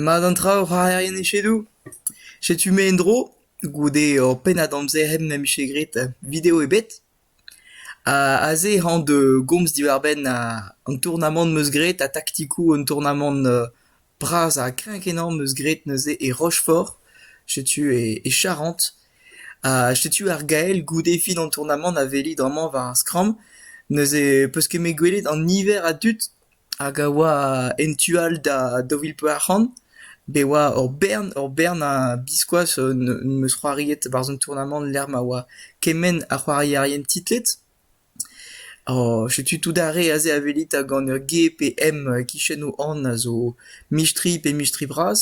Mat an traoù ra erien echedoù. Setu-me en-dro goude ur pennad amzer hep na vije graet video ebet. Ha aze hañ da gomz diwar-benn an tournamant 'm eus graet ha taktikoù un tournamant bras ha kreñv-kenañ 'm eus graet neuze e Rochefort. Setu e Charente. Ha setu ar gael goude fin an tournamant a veli bremañ war ar skramm. Neuze 'peus ket 'met gwelet an niver a dud. hag a oa en tu all da daou vil pevar c'hant bet oa ur bern ur bern a biskoazh ne'm eus c'hoariet barzh an tournamant lec'h ma oa kement a c'hoarierien titlet. setu tout ar re aze a welit gant ur G pe M e-kichen o an a zo mistri pe mistri bras,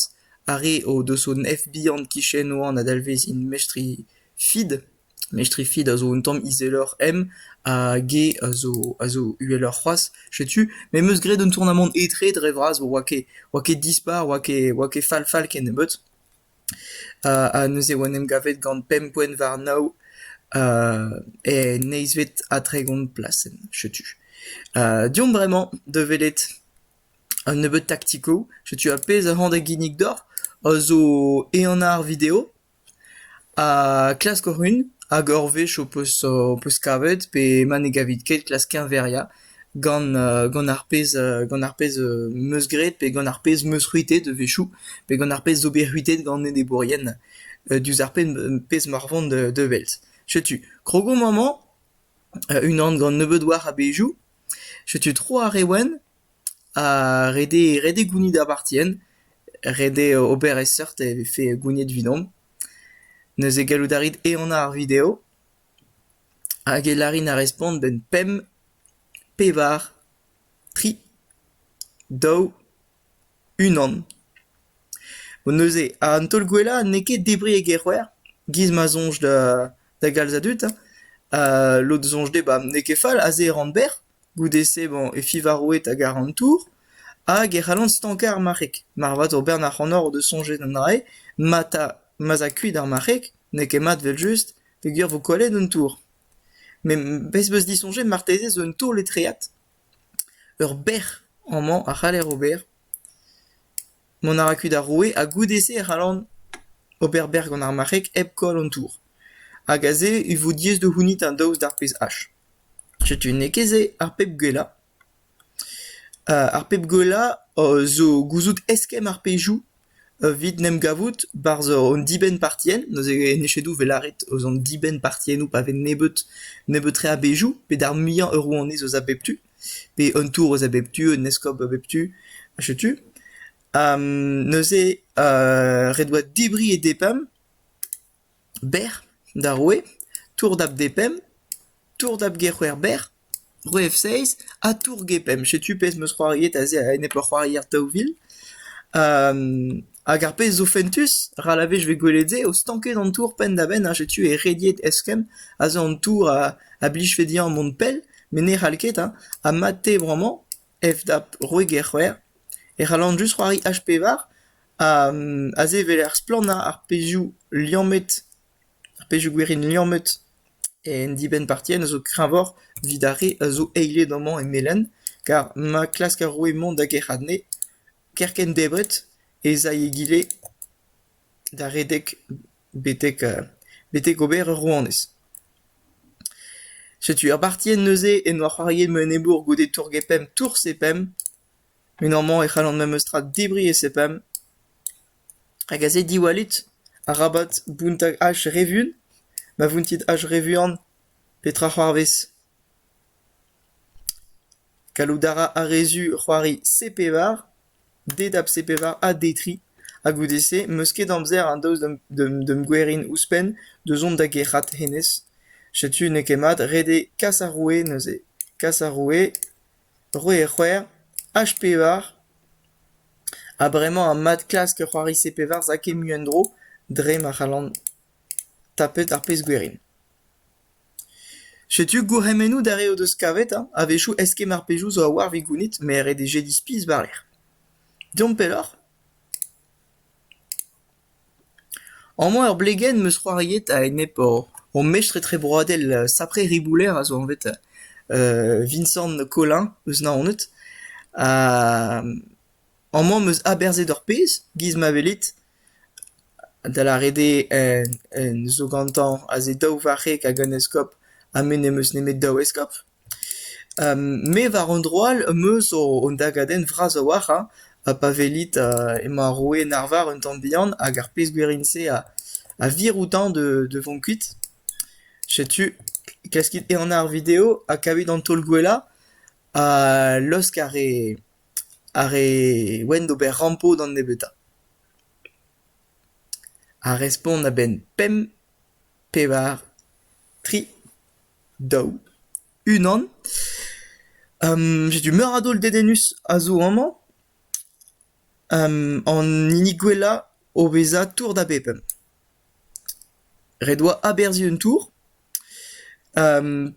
ar re o deus hon F bihan 'kichen o an a dalvez int mestri feed. Mestrifi a zo un tamm izeloc'h em ha ge a zo a zo uheloc'h c'hoazh. Setu m'em eus graet un tournamant etre dre vras, oa ket oa ket dispar, oa ket oa ket fall-fall ken nebeut. Ha neuze oa en em gavet gant pemp poent war nav en eizhvet ha tregont plasenn. Setu. deomp bremañ da welet un nebeud taktiko. Setu ar pezh a-hont a ginnig deoc'h a zo ehan ar video. Ha klask run hag ur wech ho peus ho peus kavet pe ma ne gavit ket klask keñveriañ gant gant ar pezh gant ar pezh 'm eus graet pe gant ar pezh 'm eus c'hwitet a-wechoù pe gant ar pezh zo bet c'hwitet gant enebourien diouzh ar pezh m'oc'h vont da welt. Setu krogo mañ-mañ unan gant nebeut war a-bezhioù. Setu tro ar re wenn. Ha ret eo ret eo gounit apartien, ret eo ober e seurt e vefe gouniet evidomp. Neuze gallout a rit ehanañ ar video hag e larin ar respont a-benn pemp, pevar, tri, daou, unan. Neuze an taol gwellañ n'eo ket debriñ e gec'hwec'h, giz ma soñj da da galz a dud, ha lod soñj dezhe n'eo ket fall, aze e ran berr. Goude-se emañ Efivaroed hag Arantour hag e c'hallont stankañ ar marc'heg. Marvat ober ac'hanoc'h da soñjal anezhe ma ta ma 'z a kuit ar marc'heg n'eo ket mat evel-just peogwir vo kollet un tour. Met bez 'm eus disoñjet marteze zo un taol etreat. Ur bec'h amañ a c'haller ober. Mont a ra kuit ar roue ha goude-se e c'hallan ober bec'h gant ar marc'heg hep koll an tour. Hag aze e vo diaes da c'hounit an daoust d'ar pezhach. Setu n'eo ket se ar pep gwellañ. Ar pep gwellañ zo gouzout eskemm ar pezhioù evit en em gavout barzh an dibenn-partienn. Neuze en echedoù e vez lâret eus an dibenn-partiennoù pa vez nebeut nebeut-tre a bezhioù pe d'ar muiañ ur rouanez eus a bep tu. pe un tourez a bep tu, un eskob a bep tu, setu. Ha neuze euh ret 'oa debriñ e depemp, berr d'ar roue, tour dap depemp, tour dap gec'houer berr, roue F6, ha tour gepemp. Setu pezh 'm eus c'hoariet aze a-enep ur c'hoarier daou vil. Hag ar pezh zo fentus, ral a wech e vez gwelet se o stanket an tour penn-da-benn ha setu e rediet eskemm a zo an tour a blijfe dezhañ mont pell met ne c'hall ket hein, ha mat-te bremañ FDAP roit get-c'hwec'h e c'hallan just c'hoari H-pevar ha se vel ar splannañ ar pezhioù liammet, ar pezhioù gwerin liammet en dibenn partienn a zo kreñvoc'h evit ar re a zo eilet amañ e melen, kar ma klask ar roue mont da gerc'hat anezhe. Kerkent debret ez ay egile da redek betek ober ur rouanez. Setu ur bartienn neuze en doa c'hoariet ma enebour goude tour-gepemp tours-e-pemp, met amañ e c'hallan memetra debriñ e-pemp. Hag aze diwallit, arabat bountañ ach re vuan, ma vountit ach re vuan, petra c'hoarvez ? Gallout a ra ar re zu c'hoari C-pevar, dedap C-pevar ha D-tri, ha goude-se 'm eus ket amzer ha daoust d'am gwerin ouzhpenn da zont da gerc'hat hennezh. Setu n'eo ket mat ret eo kas ar roue neuze. Kas ar roue, roue e c'hwec'h, H-pevar, ha bremañ ha mat klask c'hoari C-pevar 'za ket mui en-dro dre ma c'hallan tapet ar pezh gwerin. Setu gourc'hemennoù d'ar re o deus kavet ha a-wechoù eskemm ar pezoù zo a-walc'h evit gounit met ret eo jediñ spis war-lerc'h. Deomp pelloc'h. Amañ ur blegenn 'm eus c'hoariet a-enep hon mestr etrebroadel sapre ribouler a zo anvet Vincent Collin, eus Naoned. Amañ 'm eus aberzhet ur pezh, 'giz ma welit, da lâret eo zo gantañ aze daou varc'heg hag un eskob ha me n'em eus nemet daou eskob. Me war un dro all 'm eus un dagadenn vras a-walc'h hein, ha pa welit emañ ar roue en arvar un tamm bihan hag ar pezh gwerin-se a vir outañ da vont kuit. Setu, klaskit ehan ar video ha kavit an taol gwellañ ha laosk ar re Ar re ouent d'ober rampo d'an nebeutañ. Ar respont a-benn pemp, pevar, tri, daou, unan. setu meur a daol dedennus a zo amañ. an hini gwellañ o vezañ tour da bep. Ret 'oa aberzhiñ un tour.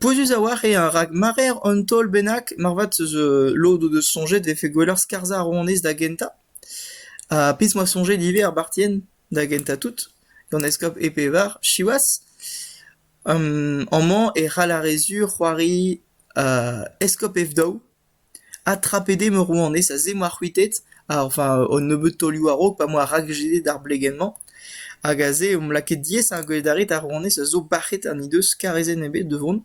Pouezus a-walc'h eo rak mareer un taol bennak moarvat eus lod o deus soñjet 'vefe gwelloc'h skarzhañ ar rouanez da gentañ. Ha pezh 'moa soñjet ivez ar bartien da gentañ tout, gant eskob e pevar siwazh. Amañ e c'hall ar re sur c'hoari eskob Ev daou. Adtrapet eo ma rouanez aze m'oa c'hwitet enfin an nebeud taolioù a-raok pa m'oa rakjedet ar blegenn-mañ hag aze omp lakaet diaes ar gwele d'ar rouanez a zo bac'het ha n'he deus karezenn ebet da vont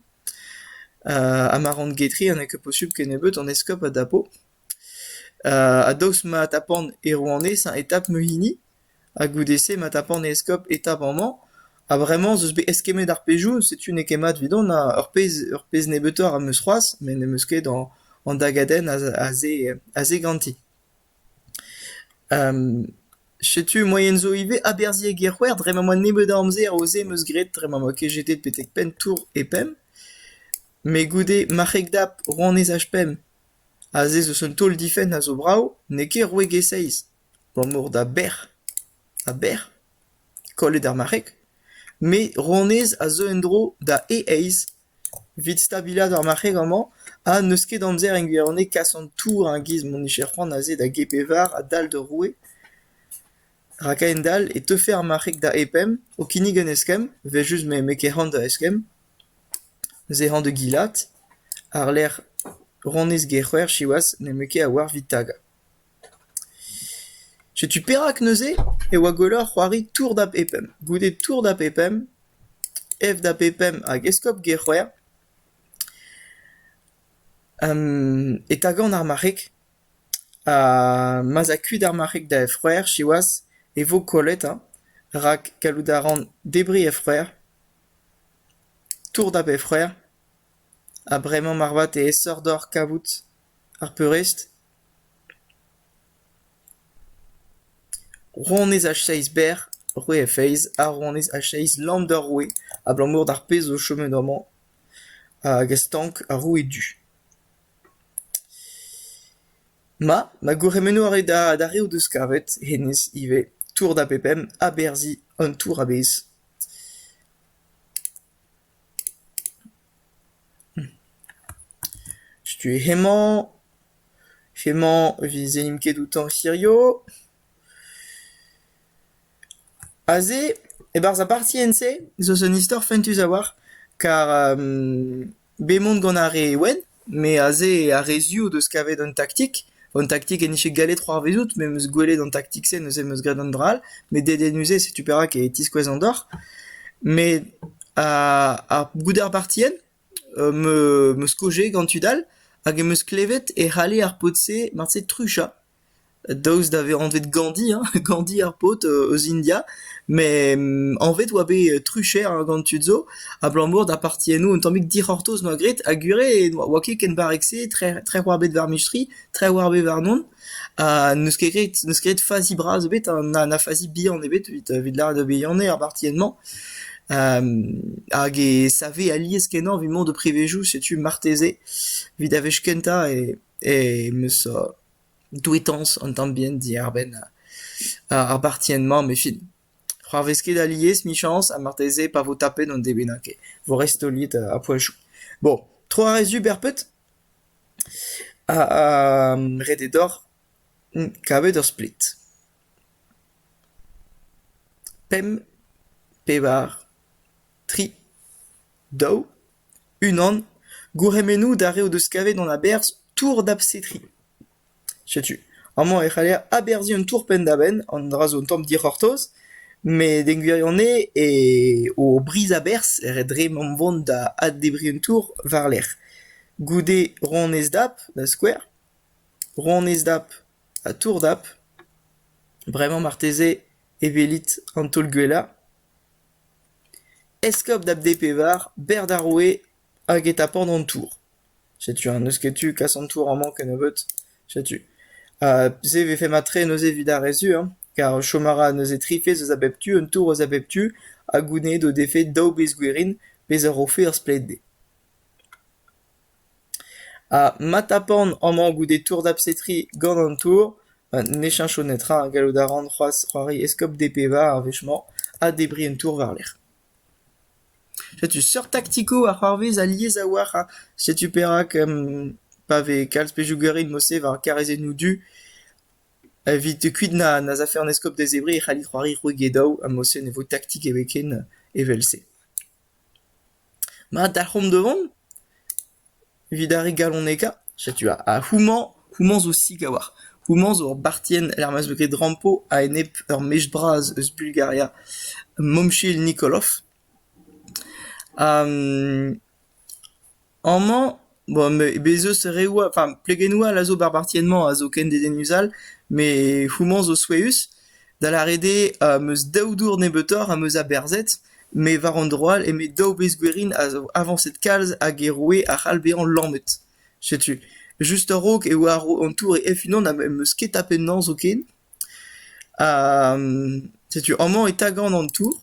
ha ma ran getri ha n'eo ket posubl kennebeut an eskob a dapo ha daoust ma tapan e rouanez e tap ma hini. Ha goude-se ma tapan e eskob eta amañ, ha bremañ ez eus bet eskemmet ar pezhioù, setu n'eo ket mat evidon ha ur pezh ur pezh nebeutoc'h am eus c'hoazh met n'em eus ket an an dagadenn aze aze ganti. Setu moaien zo ivez aberzhiek ec'hwer dre ma 'oa nebeut a amzer o-se am eus graet dre ma 'oa ket jetet betek penn tour e pemp. Met goude marc'heg dap rouanezaj pemp, aze 'z eus un taol-difenn a zo brav, n'eo ket roueg e seizh. abalamour da bec'h, ha bec'h, kollet ar marc'heg, me, rouanez, a zeu en-dro da e aez, evit stabilaat ar marc'heg amañ, ha n'eus ket amzer en gwirionez kas an tour a giz m'hon nije c'hoant aze da G-Pevar a-dal d'ur roue, rak a-hend-all e teufe ar marc'heg da E-Pemp o kinnig un eskemm, evel-just m'emañ ket c'hoant da eskemm, neuze hañ da gilat, àr-lerc'h rouanez G-C'hwec'h siwazh n'emañ ket a-walc'h evit tagañ. Setu perak neuze e oa gwelloc'h c'hoari Tour da bepemp, goude Tour da bepemp, F da bepemp hag Eskob Gerc'hwec'h, e tagan ar marc'heg ha ma'z a kuit ar marc'heg da F-c'hwec'h siwazh e vo kollet hein, rak gallout a ran debriñ F-c'hwec'h, Tour da bep-c'hwec'h ha bremañ marvat e esoc'h deoc'h kavout ar peurrest. Rouanez H-Seizh Ber, roue F-Eizh ha rouanez H-Seizh Landerroe abalamour d'ar pezh zo chomet amañ hag a stank ar roue du. Ma, ma gourc'hemennoù a rae d'ar re o deus kavet, hennezh ivez, tour da bep emp, aberzhiñ an tour a-bezh. Setu hemañ, hemañ evit se n'imp ket outañ hirio. Aze, e-barzh ar partienn-se, zo un istor fentus a-walc'h, kar bemont gant ar re wenn. Me aze eo ar re zu o deus kavet un taktik. Un taktik en dije gallet c'hoarvezout me 'm eus gwelet an taktik-se neuze 'm eus graet an dra all. Met dedennus-se setu perak e tiskouez an deoc'h. Met ar ar goude ar partien m eus skojet gant tud all hag em eus klevet e c'halle ar paotr-se marteze truchañ. Daoust da vezañ anvet Gandhi hein, Gandhi ar paotr eus India, met anvet oa bet trucher gant tud zo abalamour da parti enno un tammig dic'hortoz 'noa graet ha gwire oa ket ken barrek-se trec'h oa bet war mustri, trec'h oa bet warnon ha n'eus ket graet n'eus ket graet fazi bras ebet ha na na fazi bihan ebet evit evit lâret da bihanner ar parti-mañ hag e save alies-kenañ evit mont d'ho privezioù setu marteze evit ar wech kentañ e em eus douetañs an tamm bihan diarbenn ar bartienn-mañ met evit c'hoarvez ket alies 'michañs ha marteze pa vo tapet an debet n'a ket 'vo restoliet a poechoù. Bon tro a rezu berped ha ret eo deoc'h kavet ur splet. Pemp, pevar, tri, daou. Unan, gourc'hemennoù d'ar re o deus kavet an aberzh Tour d'Absetri. Setu, amañ e c'haller aberzhiñ un tour penn-da-benn, an dra zo un tamm dic'hortoz, met en gwirionez eo o briz-aberzh ret dre mont vont da addebriñ un tour war-lerc'h. Goude ronez-dap, da skouer, ronez-dap ha tour-dap, bremañ marteze e welit an taol gwellañ. Eskob da bD-Pevar, berr d'ar roue hag e tapant an tour. Setu ha n'eus ket tu kas an tour amañ kennebeut. Setu. Ha se 'vefe mat-tre neuze evit ar re-se hein, kar chom a ra neuze tri fezh eus a bep tu, un tour eus a bep tu, ha gounezet o defe daou bezh gwerin, pezh a rofe ur stled dezhe. Ha ma tapan amañ goude tour dapsetri gant an tour, ha ne cheñcho netra, gallout a ran c'hoazh c'hoari eskob DPV ar wech-mañ ha debriñ un tour war-lerc'h. Setu seurt taktiko a c'hoarvez alies a-walc'h ha setu perak pa vez kalz pezhioù garit mod-se war karrezennoù du, evit kuit na'z afe an eskob da zebriñ e c'hallit c'hoari c'hwek e daou ha mod-se ne vo taktik ebet ken evel-se. Ma da c'homz da vont evit ar re galoñekañ, setu houmañ houmañ zo sik a-walc'h. Houmañ zo ur bartienn er-maez eus red Rampo a-enep ur mech bras eus Bulgaria, Momchil Nikolov. Amañ Bon, bez' eus reoù all, enfin plegennoù all a zo ba'r bartienn-mañ a zo ken dedennus all, met houmañ zo souezhus. Da lâret eo, am eus daou dour nebeutoc'h am eus aberzhet, met war an dro all eme daou wezh gwerin a zo avañset kalz hag e roe a c'hall bezañ lammet. Setu. Just a-raok e oa an tour hec'h-unan ha em eus ket tapet 'nañ zoken. Ha setu amañ e tagan an tour.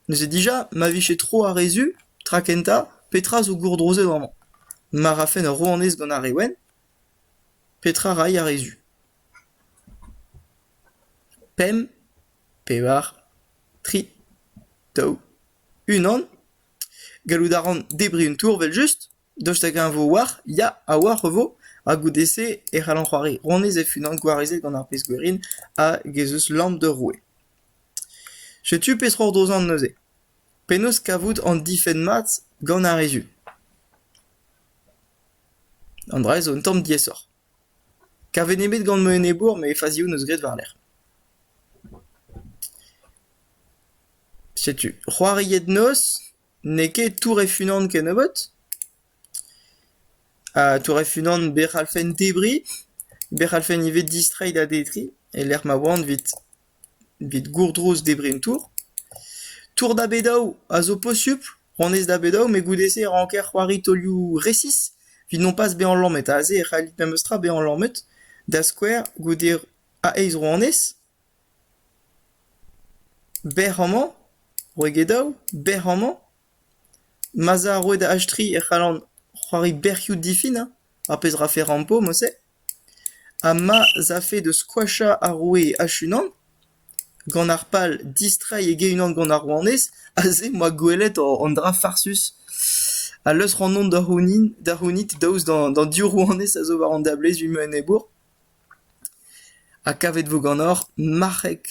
Neuze dija ma vije tro ar re zu, tra kentañ, petra zo gourdrozet amañ ? Ma rafen ur rouanez gant ar re wenn ? Petra ray ar re zu ? Pemp, pevar, tri, daou, unan ? Gallout a ran debriñ un tour evel-just ? Daoust hag-eñ e vo war ? Ya, a-walc'h e vo, ha goude-se e c'hallan c'hoari rouanez e-unan gwarezet gant ar pezh-gwerin hag ez eus lamm d'ur roue. Setu peseurt ozan neuze, penaos kavout an difenn mat gant ar re zu. An dra-se zo un tamm diaesoc'h. Kavet nemet gant ma enebour met fazioù 'neus graet war-lerc'h. Setu, c'hoariet noz, n'eo ket Tour F-Unan kennebeut, ha Tour F-Unan bec'h 'c'hallfen debriñ, bec'h 'c'hallfen ivez distreiñ da detriñ e-lec'h ma oan 'vit. Bet gourdrouz debrén tour ? Tour da bet daou a zo posupl, honnezh da bet daou met goude-se e ranker c'hoari taolioù resis evit nompas bezañ lammet. Aze e c'hallit memestra bezañ lammet, da skouer goude a eizh ro honnezh, bec'h amañ, roit get daou, bec'h amañ. Ma'z a roet achtrilh e c'hallan c'hoari bec'hioù difin, ar pezh 'rafe rampo, mouse. Ha ma 'z afe da skoachañ ar roue hec'h-unan gant ar pal distreiñ e ge-unan gant ar rouanez, aze 'm boa gwelet an dra farsus a leusr ac'hanon da c'hounit da c'hounit daoust d'an div rouanez a zo war an dablez ivez en enebour. Ha kavet vo ganeoc'h marc'heg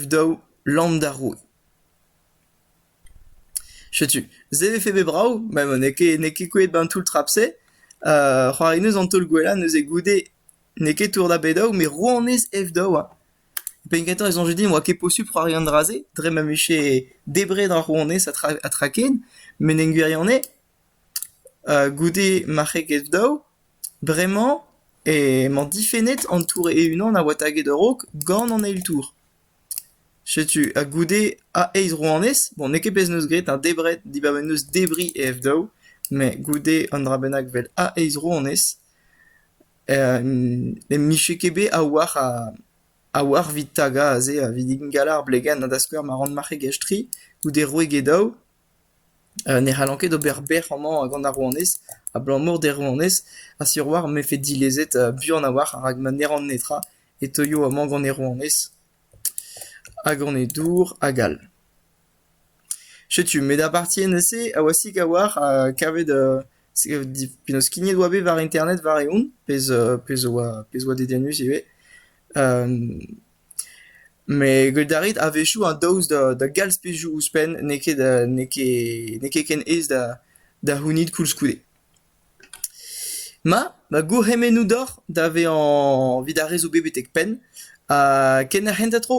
F daou, lamm d'ar roue. Setu, se 'vefe bet brav, met n'eo ket n'eo ket kouezhet 'ban toull trap-se. c'hoarineus an taol gwellañ neuze goude n'eo ket tour da bet-daou met rouanez F-daou hein. Penn kentañ e soñje din e oa ket posupl c'hoari an dra-se dre ma vije debret ar rouanez ha tra ha tra ken met en gwirionez goude marc'heg F-daou bremañ emañ difennet an tour e-unan a oa taget a-raok gant an eil tour. Setu ha goude a eizh rouanez, bon n'eo ket pezh 'neus graet ha debret dibaoe 'neus debriñ e F-daou, met goude un dra bennak 'vel a eizh rouanez ne mije ket bet a-walc'h a-walc'h 'vit tagañ aze evit ingal ar blegenn ha da skouer ma ran marc'hegezh tri goude roue Gedaou. Ne c'hallan ket ober bec'h amañ gant ar rouanez, abalamour d'he rouanez, ha sur war m'efe dilezet buan a-walc'h rak ma ne ran netra e teuio amañ gant he rouanez ha gant he dour hag all. Setu, met ar partie neuze a-wasik a-walc'h ha kavet penaos skignet oa bet war internet war-eeun, pezh pezh oa pezh oa dedennus ivez. Met a rit a-wechoù an daoust da galz pezhioù ouzhpenn, n'eo ket n'eo ket ken aes da c'hounit koulskoude. Ma, ma gourc'hemennoù deoc'h da vezañ evit ar re zo bet betek penn ha ken ar c'hentañ tro.